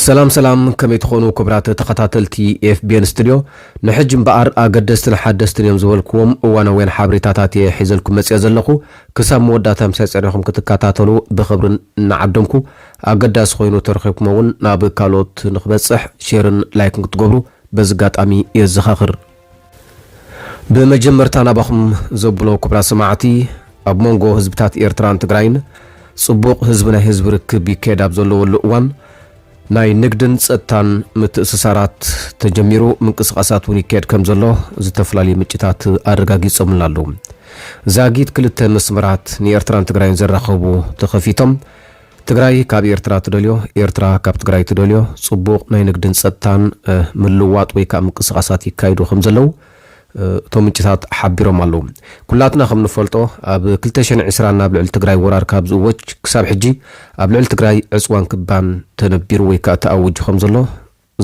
ሰላም ሰላም ከመይ ትኾኑ ክብራት ተኸታተልቲ ኤፍቢኤን ስቱድዮ ንሕጂ እምበኣር ኣገደስትን ሓደስትን እዮም ዝበልክዎም እዋናውያን ሓበሬታታት እየ ሒዘልኩም መፅኦ ዘለኹ ክሳብ መወዳእታ ምሳይ ፀኒኹም ክትከታተሉ ብክብርን እናዓደምኩ ኣገዳሲ ኮይኑ ተረኺብኩሞ እውን ናብ ካልኦት ንክበፅሕ ሼርን ላይክን ክትገብሩ በዚ ጋጣሚ የዘኻኽር። ብመጀመርታ ናባኹም ዘብሎ ኩብራት ሰማዕቲ ኣብ ሞንጎ ህዝብታት ኤርትራን ትግራይን ጽቡቕ ህዝቢ ናይ ህዝቢ ርክብ ይካየድ ኣብ ዘለወሉ እዋን ናይ ንግድን ጸጥታን ምትእስሳራት ተጀሚሩ ምንቅስቓሳት እውን ይካየድ ከም ዘሎ ዝተፈላለዩ ምንጭታት ኣረጋጊጾምልና ኣለዉ። ዛጊት ክልተ መስመራት ንኤርትራን ትግራይን ዘራኸቡ ተኸፊቶም ትግራይ ካብ ኤርትራ ትደልዮ፣ ኤርትራ ካብ ትግራይ ትደልዮ ጽቡቕ ናይ ንግድን ጸጥታን ምልውዋጥ ወይ ከኣ ምንቅስቓሳት ይካይዱ ከም ዘለዉ እቶም ምንጭታት ሓቢሮም ኣለዉ። ኩላትና ከም ንፈልጦ ኣብ ክልተ ሽሕን ዕስራን ኣብ ልዕሊ ትግራይ ወራር ካብ ዝእወጅ ክሳብ ሕጂ ኣብ ልዕሊ ትግራይ ዕጽዋን ክባን ተነቢሩ ወይ ከኣ ተኣውጁ ከም ዘሎ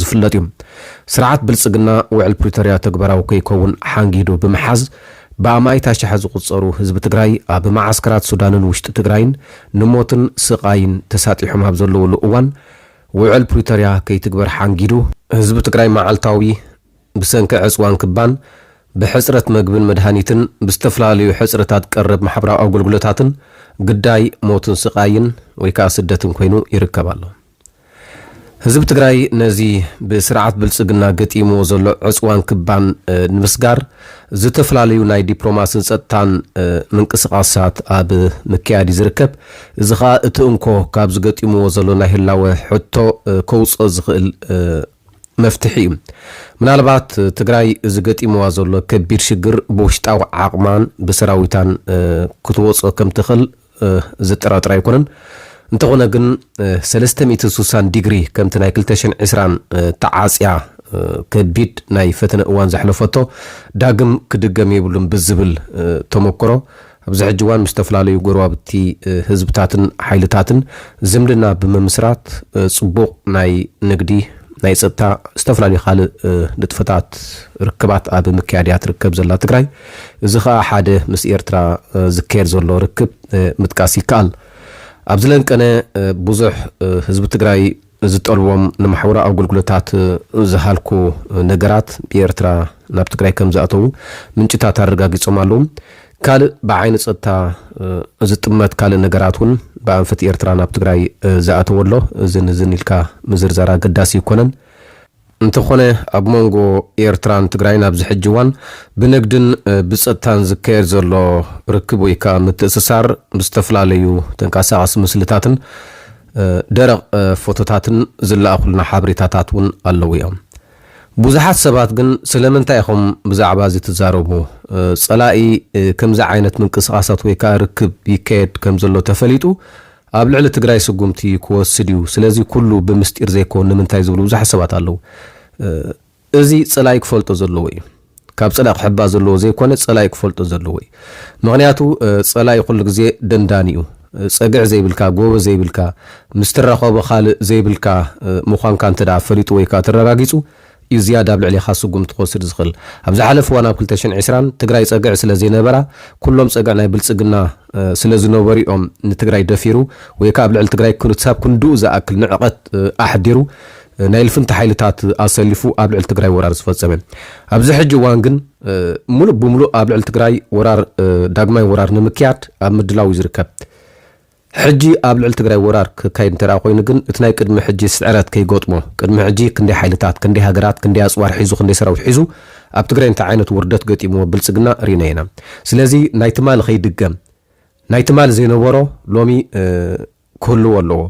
ዝፍለጥ እዩ። ስርዓት ብልፅግና ውዕል ፕሪቶርያ ተግባራዊ ከይከውን ሓንጊዱ ብምሓዝ ብኣማኢት ኣሻሓት ዝቑፀሩ ህዝቢ ትግራይ ኣብ መዓስከራት ሱዳንን ውሽጢ ትግራይን ንሞትን ስቓይን ተሳጢሖም ኣብ ዘለዉሉ እዋን ውዕል ፕሪቶርያ ከይትግበር ሓንጊዱ ህዝቢ ትግራይ መዓልታዊ ብሰንኪ ዕፅዋን ክባን፣ ብሕፅረት መግብን መድሃኒትን፣ ብዝተፈላለዩ ሕፅረታት ቀረብ ማሕበራዊ ኣገልግሎታትን ግዳይ ሞትን ስቓይን ወይ ከዓ ስደትን ኮይኑ ይርከብ ኣሎ። ህዝቢ ትግራይ ነዚ ብስርዓት ብልፅግና ገጢምዎ ዘሎ ዕፅዋን ክባን ንምስጋር ዝተፈላለዩ ናይ ዲፕሎማስን ፀጥታን ምንቅስቓሳት ኣብ ምክያድ እዩ ዝርከብ። እዚ ኸኣ እቲ እንኮ ካብዚ ገጢምዎ ዘሎ ናይ ህላወ ሕቶ ከውፅኦ ዝኽእል መፍትሒ እዩ። ምናልባት ትግራይ እዚ ገጢምዋ ዘሎ ከቢድ ሽግር ብውሽጣዊ ዓቕማን ብሰራዊታን ክትወፅኦ ከምትኽእል ዘጠራጥር ኣይኮነን። እንተኾነ ግን ሰለስተ ሚእትን ሱሳን ዲግሪ ከምቲ ናይ ክልተ ሽሕን ዕስራን ተዓጽያ ከቢድ ናይ ፈተነ እዋን ዘሕለፈቶ ዳግም ክድገም የብሉን ብዝብል ተመክሮ ኣብዚ ሕጂ እዋን ምስ ዝተፈላለዩ ጎረባብቲ ህዝብታትን ሓይልታትን ዝምድና ብምምስራት ጽቡቕ ናይ ንግዲ፣ ናይ ጸጥታ ዝተፈላለዩ ካልእ ንጥፈታት ርክባት ኣብ ምክያድ እያ ትርከብ ዘላ ትግራይ። እዚ ከኣ ሓደ ምስ ኤርትራ ዝካየድ ዘሎ ርክብ ምጥቃስ ይከኣል። ኣብ ዝለንቀነ ብዙሕ ህዝቢ ትግራይ ዝጠልቦም ንማሕበራዊ ኣገልግሎታት ዝሃልኩ ነገራት ብኤርትራ ናብ ትግራይ ከምዝኣተዉ ምንጭታት ኣረጋጊጾም ኣለዉ። ካልእ ብዓይኒ ጸጥታ ዝጥመት ካልእ ነገራት ውን ብኣንፈት ኤርትራ ናብ ትግራይ ዝኣተወ ኣሎ። እዝን እዝን ኢልካ ምዝርዛር ኣገዳሲ ኣይኮነን። እንተኾነ ኣብ ሞንጎ ኤርትራን ትግራይን ኣብዚ ሕጂ እዋን ብንግድን ብጸጥታን ዝካየድ ዘሎ ርክብ ወይ ከኣ ምትእስሳር ብዝተፈላለዩ ተንቀሳቓሲ ምስልታትን ደረቕ ፎቶታትን ዝለኣኹልና ሓበሬታታት እውን ኣለዉ እዮም። ብዙሓት ሰባት ግን ስለምንታይ ኢኹም ብዛዕባ እዚ ትዛረቡ? ጸላኢ ከምዚ ዓይነት ምንቅስቓሳት ወይ ከኣ ርክብ ይካየድ ከምዘሎ ተፈሊጡ ኣብ ልዕሊ ትግራይ ስጉምቲ ክወስድ እዩ ስለዚ ኩሉ ብምስጢር ዘይኮን ንምንታይ ዝብሉ ብዙሓት ሰባት ኣለው እዚ ፀላኢ ክፈልጦ ዘለዎ እዩ ካብ ፀላኢ ክሕባእ ዘለዎ ዘይኮነ ፀላኢ ክፈልጦ ዘለዎ እዩ ምክንያቱ ፀላኢ ኩሉ ግዜ ደንዳኒ እዩ ፀግዒ ዘይብልካ ጎበዝ ዘይብልካ ምስትረከቦ ካልእ ዘይብልካ ምኳንካ እንተ ፈሊጡ ወይከዓ ተረጋጊፁ ዩ ዝያዳ ኣብ ልዕሌኻ ስጉምቲ ክወስድ ዝኽል። ኣብ ዝሓለፈ እዋን ኣብ ክልተ ሽሕን ዕስራን ትግራይ ፀግዒ ስለዘይነበራ ኩሎም ፀግዒ ናይ ብልፅግና ስለዝነበሩ ዮም ንትግራይ ደፊሩ ወይ ከዓ ኣብ ልዕሊ ትግራይ ክሳብ ክንድኡ ዝኣክል ንዕቐት ኣሕዲሩ ናይ ልፍንቲ ሓይልታት ኣሰሊፉ ኣብ ልዕሊ ትግራይ ወራር ዝፈፀመ። ኣብዚ ሕጂ እዋን ግን ሙሉእ ብሙሉእ ኣብ ልዕሊ ትግራይ ወራር ዳግማይ ወራር ንምክያድ ኣብ ምድላው ዩ ዝርከብ። ሕጂ ኣብ ልዕሊ ትግራይ ወራር ክካየድ እንተድኣ ኮይኑ ግን እቲ ናይ ቅድሚ ሕጂ ስዕረት ከይገጥሞ ቅድሚ ሕጂ ክንደይ ሓይልታት ክንደይ ሃገራት ክንደይ ኣጽዋር ሒዙ ክንደይ ሰራዊት ሒዙ ኣብ ትግራይ እንታይ ዓይነት ውርደት ገጢምዎ ብልጽግና ሪእና ኢና ስለዚ ናይ ትማሊ ከይድገም ናይ ትማሊ ዘይነበሮ ሎሚ ክህልዎ ኣለዎ።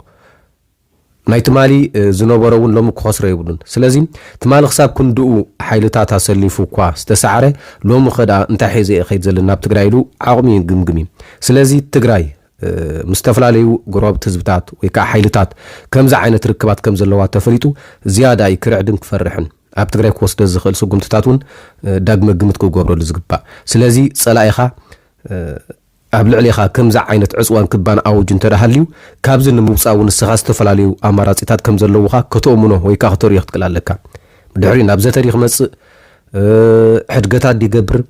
ናይ ትማሊ ዝነበሮ እውን ሎሚ ክኸስሮ የብሉን። ስለዚ ትማሊ ክሳብ ክንድኡ ሓይልታት ኣሰሊፉ እኳ ዝተሳዕረ ሎሚኸ ድኣ እንታይ ሒዘ እየ ክኸይድ ዘለኒ ናብ ትግራይ ኢሉ ዓቕሚ ይግምግም እዩ። ስለዚ ትግራይ ምስ ዝተፈላለዩ ጎረባብቲ ህዝብታት ወይ ከዓ ሓይልታት ከምዚ ዓይነት ርክባት ከም ዘለዋ ተፈሊጡ ዝያዳ እዩ ክርዕድን ክፈርሕን። ኣብ ትግራይ ክወስዶ ዝኽእል ስጉምትታት እውን ዳግመ ግምት ክገብረሉ ዝግባእ። ስለዚ ፀላኢኻ ኣብ ልዕሌኻ ከምዚ ዓይነት ዕጽዋን ክባን ኣውጁ እንተደኣሃልዩ፣ ካብዚ ንምውጻእ እውን ንስኻ ዝተፈላለዩ ኣማራጺታት ከምዘለዉኻ ከተኡምኖ ወይ ከኣ ክተርእዮ ክትክእል ኣለካ። ብድሕሪኡ ናብ ዘተ ድዩ ክመጽእ? ሕድገታት ድዩ ይገብር?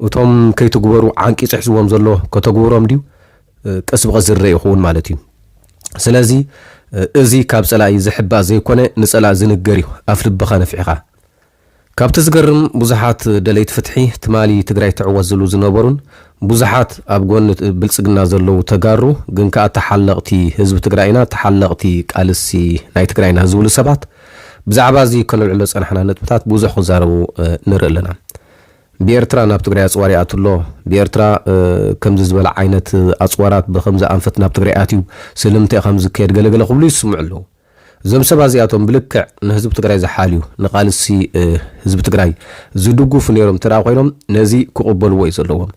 እቶም ከይትግበሩ ዓንቂጹ ሒዝዎም ዘሎ ከተግብሮም ድዩ? ቀስ ብቐስ ዝርኣ ይኸውን ማለት እዩ። ስለዚ እዚ ካብ ጸላኢ ዝሕባእ ዘይኮነ ንጸላኢ ዝንገር እዩ፣ ኣፍ ልብኻ ነፊሕኻ። ካብቲ ዝገርም ብዙሓት ደለይቲ ፍትሒ ትማሊ ትግራይ ትዕወት ዝብሉ ዝነበሩን ብዙሓት ኣብ ጎኒ ብልፅግና ዘለዉ ተጋሩ ግን ከኣ ተሓለቕቲ ህዝቢ ትግራይ ኢና ተሓለቕቲ ቃልሲ ናይ ትግራይና ዝብሉ ሰባት ብዛዕባ እዚ ከነልዕሎ ዝፀናሕና ነጥብታት ብዙሕ ክዛረቡ ንርኢ ኣለና ብኤርትራ ናብ ትግራይ ኣፅዋር ይኣቱ ኣሎ ብኤርትራ ከምዚ ዝበለ ዓይነት ኣፅዋራት ብከምዚ ኣንፈት ናብ ትግራይ ኣትዩ ስለምንታይ እዩ ከምዚ ዝካየድ ገለገለ ክብሉ ይስምዑ ኣለዉ እዞም ሰብ ኣዚኣቶም ብልክዕ ንህዝቢ ትግራይ ዝሓልዩ ንቃልሲ ህዝቢ ትግራይ ዝድጉፉ ነይሮም እንተድኣ ኮይኖም ነዚ ክቅበልዎ እዩ ዘለዎም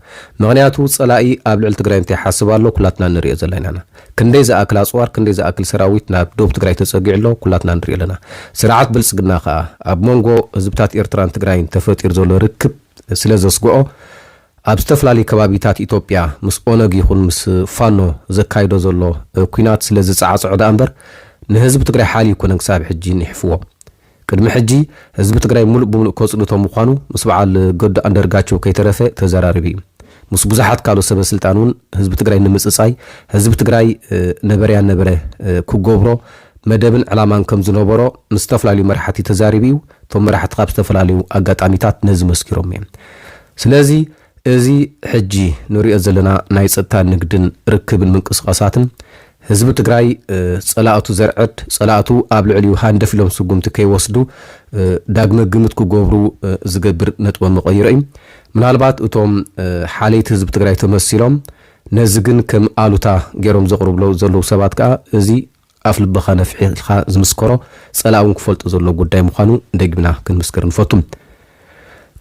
ምክንያቱ ፀላኢ ኣብ ልዕሊ ትግራይ እንታይ ይሓስብ ኣሎ ኩላትና እንሪኦ ዘለና ኢና ክንደይ ዝኣክል ኣፅዋር ክንደይ ዝኣክል ሰራዊት ናብ ዶብ ትግራይ ተፀጊዑ ኣሎ ኩላትና ንሪኦ ኣለና ስርዓት ብልፅግና ከዓ ኣብ መንጎ ህዝብታት ኤርትራን ትግራይን ተፈጢሩ ዘሎ ርክብ ስለዘስግኦ ኣብ ዝተፈላለዩ ከባቢታት ኢትዮጵያ ምስ ኦነግ ይኹን ምስ ፋኖ ዘካይዶ ዘሎ ኲናት ስለ ዝጸዓጸዖ ደኣ እምበር ንህዝቢ ትግራይ ሓልዩ ኣይኮነን ክሳብ ሕጂ ኒሕፍዎ። ቅድሚ ሕጂ ህዝቢ ትግራይ ምሉእ ብምሉእ ከጽንቶ ምዃኑ ምስ በዓል ገዱ ኣንደርጋቸው ከይተረፈ ተዘራሪቡ እዩ። ምስ ብዙሓት ካልኦት ሰበ ስልጣን እውን ህዝቢ ትግራይ ንምጽጻይ ህዝቢ ትግራይ ነበረ ያነበረ ክገብሮ መደብን ዕላማን ከም ዝነበሮ ምስ ዝተፈላለዩ መራሕቲ ተዛሪቡ እዩ። እቶም መራሕቲ ካብ ዝተፈላለዩ ኣጋጣሚታት ነዚ መስኪሮም እዮም። ስለዚ እዚ ሕጂ ንሪኦ ዘለና ናይ ጸጥታ ንግድን ርክብን ምንቅስቓሳትን ህዝቢ ትግራይ ጸላእቱ ዘርዕድ፣ ጸላእቱ ኣብ ልዕሊኡ ሃንደፍ ኢሎም ስጉምቲ ከይወስዱ ዳግመ ግምት ክገብሩ ዝገብር ነጥበ መቐይሮ እዩ። ምናልባት እቶም ሓለይቲ ህዝቢ ትግራይ ተመሲሎም ነዚ ግን ከም ኣሉታ ገይሮም ዘቕርብሎ ዘለዉ ሰባት ከኣ እዚ ኣፍ ልብኻ ነፊሕልካ ዝምስከሮ ጸላኢ እውን ክፈልጦ ዘለዎ ጉዳይ ምዃኑ ደጊምና ክንምስክር ንፈቱ።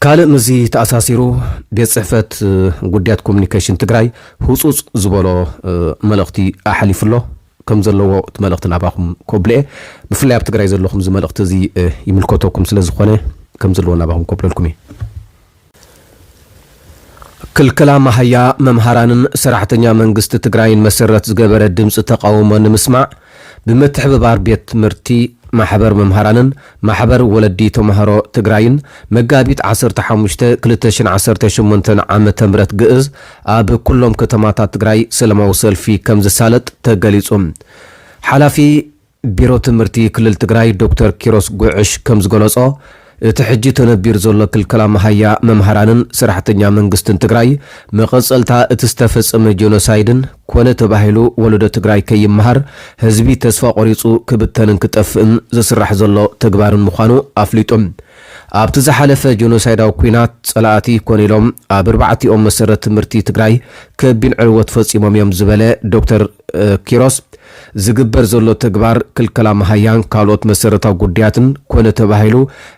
ካልእ ምስዚ ተኣሳሲሩ ቤት ጽሕፈት ጉዳያት ኮሙኒኬሽን ትግራይ ህጹጽ ዝበሎ መልእኽቲ ኣሕሊፉ ኣሎ። ከም ዘለዎ እቲ መልእኽቲ ናባኹም ከብሎ'የ። ብፍላይ ኣብ ትግራይ ዘለኹም እዚ መልእኽቲ እዚ ይምልከተኩም ስለ ዝኾነ ከም ዘለዎ ናባኹም ከብለልኩም እየ። ክልከላ መሃያ መምሃራንን ሰራሕተኛ መንግስቲ ትግራይን መሰረት ዝገበረ ድምፂ ተቓውሞ ንምስማዕ ብምትሕብባር ቤት ትምህርቲ ማሕበር መምሃራንን ማሕበር ወለዲ ተምሃሮ ትግራይን መጋቢት ዓሰርተ ሓሙሽተ ክልተ ሽሕን ዓሰርተ ሸሞንተን ዓ ም ግእዝ ኣብ ኩሎም ከተማታት ትግራይ ሰለማዊ ሰልፊ ከምዝሳለጥ ተገሊፁ ሓላፊ ቢሮ ትምህርቲ ክልል ትግራይ ዶክተር ኪሮስ ጉዕሽ ከምዝገለፆ፣ እቲ ሕጂ ተነቢሩ ዘሎ ክልከላ መሃያ መምሃራንን ሰራሕተኛ መንግስትን ትግራይ መቐፀልታ እቲ ዝተፈፀመ ጄኖሳይድን ኮነ ተባሂሉ ወለዶ ትግራይ ከይመሃር ህዝቢ ተስፋ ቆሪፁ ክብተንን ክጠፍእን ዝስራሕ ዘሎ ተግባርን ምዃኑ ኣፍሊጡ። ኣብቲ ዝሓለፈ ጄኖሳይዳዊ ኲናት ፀላእቲ ኮነ ኢሎም ኣብ ኣርባዕቲኦም መሰረት ትምህርቲ ትግራይ ከቢን ዕንወት ፈፂሞም እዮም ዝበለ ዶክተር ኪሮስ፣ ዝግበር ዘሎ ተግባር ክልከላ መሃያን ካልኦት መሰረታዊ ጉዳያትን ኮነ ተባሂሉ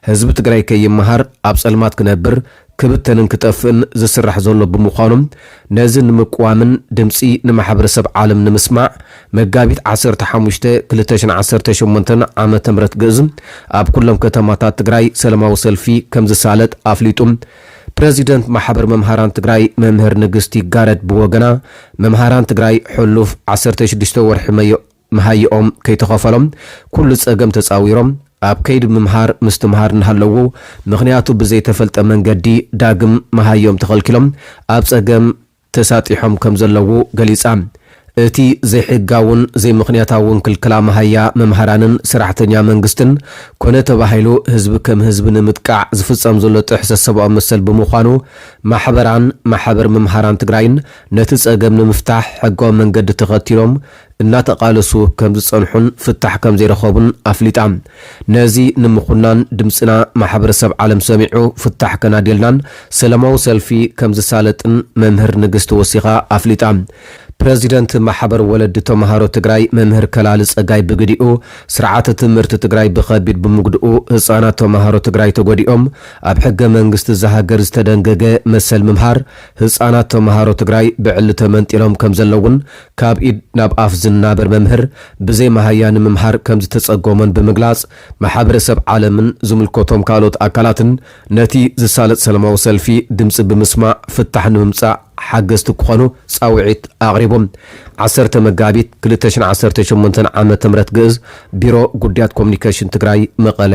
ህዝቢ ትግራይ ከይመሃር፣ ኣብ ፀልማት ክነብር፣ ክብተንን ክጠፍእን ዝስራሕ ዘሎ ብምዃኑ ነዚ ንምቅዋምን ድምፂ ንማሕበረሰብ ዓለም ንምስማዕ መጋቢት ዓሰርተ ሓሙሽተ ክልተ ሽሕን ዓሰርተ ሸሞንተን ዓመተ ምህረት ግእዝ ኣብ ኩሎም ከተማታት ትግራይ ሰለማዊ ሰልፊ ከምዝሳለጥ ኣፍሊጡ። ፕረዚደንት ማሕበር መምሃራን ትግራይ መምህር ንግስት ይጋረድ ብወገና፣ መምሃራን ትግራይ ሕሉፍ ዓሰርተ ሽዱሽተ ወርሒ መሃይኦም ከይተኸፈሎም ኩሉ ፀገም ተፃዊሮም ኣብ ከይዲ ምምሃር ምስትምሃር እናሃለዉ ምኽንያቱ ብዘይተፈልጠ መንገዲ ዳግም መሃዮም ተኸልኪሎም ኣብ ፀገም ተሳጢሖም ከም ዘለዉ ገሊጻ። እቲ ዘይሕጋውን ዘይምኽንያታውን ክልከላ መሃያ መምሃራንን ሰራሕተኛ መንግስትን ኮነ ተባሂሉ ህዝቢ ከም ህዝቢ ንምጥቃዕ ዝፍጸም ዘሎ ጥሕሰት ሰብኣዊ መሰል ብምዃኑ ማሕበራን ማሕበር መምሃራን ትግራይን ነቲ ጸገም ንምፍታሕ ሕጋዊ መንገዲ ተኸቲሎም እናተቓለሱ ከምዝጸንሑን ፍታሕ ከምዘይረኸቡን ኣፍሊጣ። ነዚ ንምኹናን ድምጽና ማሕበረሰብ ዓለም ሰሚዑ ፍታሕ ከናድየልናን ሰላማዊ ሰልፊ ከምዝሳለጥን መምህር ንግስቲ ወሲኻ ኣፍሊጣ። ፕረዚደንት ማሕበር ወለዲ ተምሃሮ ትግራይ መምህር ከላሊ ጸጋይ ብግዲኡ፣ ስርዓተ ትምህርቲ ትግራይ ብኸቢድ ብምጉድኡ ህጻናት ተምሃሮ ትግራይ ተጎዲኦም፣ ኣብ ሕገ መንግስቲ እዛ ሃገር ዝተደንገገ መሰል ምምሃር ህጻናት ተምሃሮ ትግራይ ብዕሊ ተመንጢሎም ከምዘለዉን ካብ ኢድ ናብ ኣፍ ዝናበር መምህር ብዘይ መሃያ ንምምሃር ከምዝተጸገሞን ብምግላጽ፣ ማሕበረሰብ ዓለምን ዝምልከቶም ካልኦት ኣካላትን ነቲ ዝሳለጥ ሰለማዊ ሰልፊ ድምጺ ብምስማዕ ፍታሕ ንምምጻእ ሓገዝቲ ክኾኑ ጻውዒት ኣቕሪቡ። ዓሰርተ መጋቢት ክልተ ሽሕን ዓሰርተ ሸሞንተን ዓመተ ምህረት ግእዝ፣ ቢሮ ጉዳያት ኮሙኒኬሽን ትግራይ፣ መቐለ።